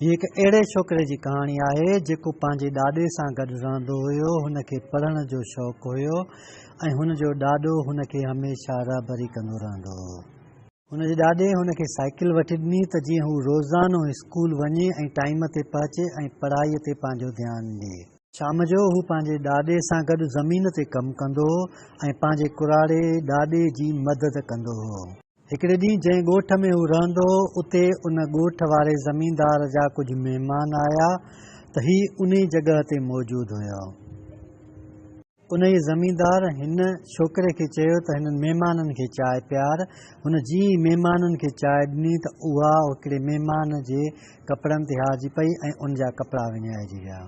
هي هڪ اهڙي ڇوڪري جي ڪهاڻي آهي، جيڪو پنهنجي ڏاڏي سان گڏ رهندو هيو، هن کي پڙهڻ جو شوق هيو ۽ هن جو ڏاڏو هن کي هميشه رهبري ڪندو رهندو هو. هن جي ڏاڏي هن کي سائيڪل وٺي ڏني ته جيئن هو روزانو اسڪول وڃي ۽ ٽائيم تي پهچي ۽ پڙهائي تي پنهنجو ڌيان ڏي. شام جو هو پنهنجي ڏاڏي سان گڏ زمين تي ڪم ڪندو هو ۽ پنهنجي ڪراڙي ڏاڏي جي مدد ڪندو هو. هڪڙي ڏينهن جنهن ڳوٺ ۾ هو رهندو هو، اتي ان ڳوٺ واري زميندار جا ڪجهه مهمان آيا ته هي انهي جڳهه تي موجود هيا. انهي زميندار هن ڇوڪري کي چيو ته هنن مهمانن کي چانهه پيار. هن جيئن ئي مهمانن کي چانهه ڏني ته اها هڪڙي مهمان جي ڪپڙن تي هارجي پئي ۽ ان جا ڪپڙا وڃائجي ويا.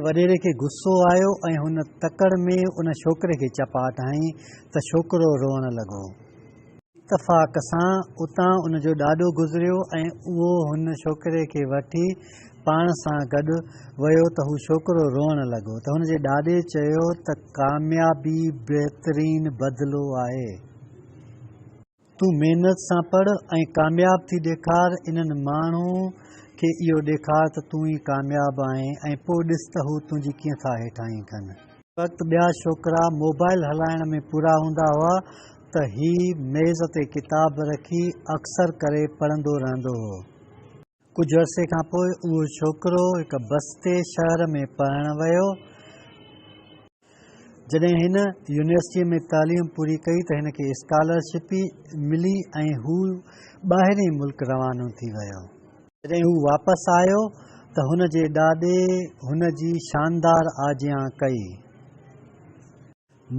وڏيري کي غصو آيو ۽ هن تڪڙ ۾ ان ڇوڪري کي چپاٽ هنئي ته ڇوڪرو روئڻ لڳو. اتفاق سان اتان ان جو ڏاڏو گذريو ۽ اهو هن ڇوڪري کي وٺي پاڻ سان گڏ ويو ته هو ڇوڪرو روئڻ لڳو ته هن جي ڏاڏي چيو ته ڪاميابي بهترين بدلو آهي. تون محنت سان پڙهه ۽ ڪامياب ٿي ڏيکار انهن ماڻهو کي اهو ڏيکار ته تون ئي ڪامياب آهين ۽ پوء ڏس ته هو تنهنجي ڪيئن ٿا هيٺاهين ڪن. هڪ وقت ٻيا ڇوڪرا موبائل هلائڻ ۾ پورا هوندا هئا ته هي ميز تي ڪتاب رکي اڪثر ڪري پڙهندو رهندو هو. ڪجهه عرصي کان پوء اهو ڇوڪرو هڪ بستي شهر ۾ پڙهڻ ويو. جڏهن هن يونيورسٽيء ۾ تعليم پوري ڪئي ته هن کي اسڪالرشپ ملي ۽ هو ٻاهرئين ملڪ روانو ٿي ويو. جڏهن هو واپس آيو ته هن جي ڏاڏي هن جي شاندار آجيان ڪئي.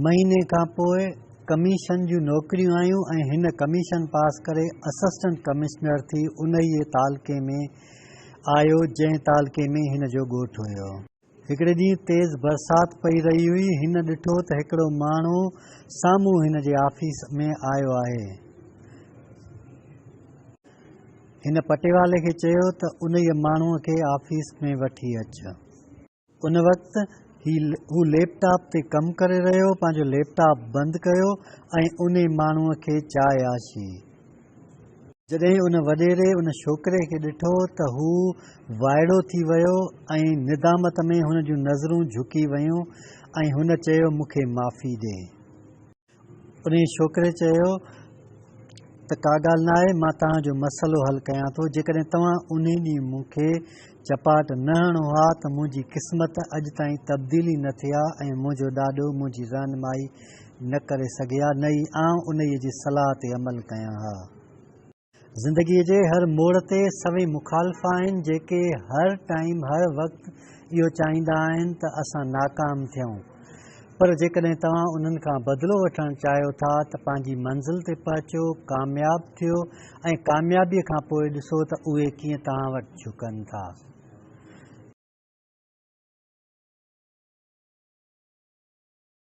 مهيني کان پوء ڪميشن جون نوڪريون آيون ۽ هن ڪميشن پاس ڪري اسسٽنٽ ڪمشنر ٿي انهيء تعلقي ۾ آيو جنهن تعلقي ۾ هن جو ڳوٺ هيو. هڪڙي ڏينهن تيز برسات پئي رهي هئي. هن ڏٺو ته هڪڙو ماڻهو سامهون هن جي آفيس ۾ آيو آهي. هن پٽيوالي کي چيو ته انهيء ماڻهوء کي آفيس ۾ وٺي اچ. ان وقت هو ليپ ٽاپ تي ڪم ڪري رهيو هو، پنهنجو ليپ ٽاپ بند ڪيو ۽ انهي ماڻهوء کي چاهياسين. جڏهن ان وڏيري ان ڇوڪري کي ڏٺو ته هو وائڙو ٿي ويو ۽ ندامت ۾ هن جون نظرون جهڪي ويون ۽ هن چيو مون کي معافي ڏي. انهيء ڇوڪري چيو ته ڪا ڳالهه نه آهي، مان توهان جو مسئلو حل ڪيان ٿو. جيڪڏهن توهان انهي ڏينهن مون کي چپاٽ نه هڻو ها ته منهنجي قسمت اڄ تائين تبديل ئي نه ٿئي ها ۽ منهنجو ڏاڏو منهنجي رهنمائي نه ڪري سگهي ها نه ئي آئون انهيء جي صلاح تي عمل ڪيان ها. زندگيء جي هر موڙ تي سوين مخالف آهن جيڪي هر ٽائيم هر وقت اهو چاهيندا آهن ته اسان ناڪام ٿيون پر جيڪڏهن توهان انهن کان بدلو وٺڻ چاهيو ٿا ته پنهنجي منزل تي پهچو ڪامياب ٿيو ۽ ڪاميابيء کان پوء ڏسو ته اهي ڪيئن توهان وٽ جهڪن ٿا.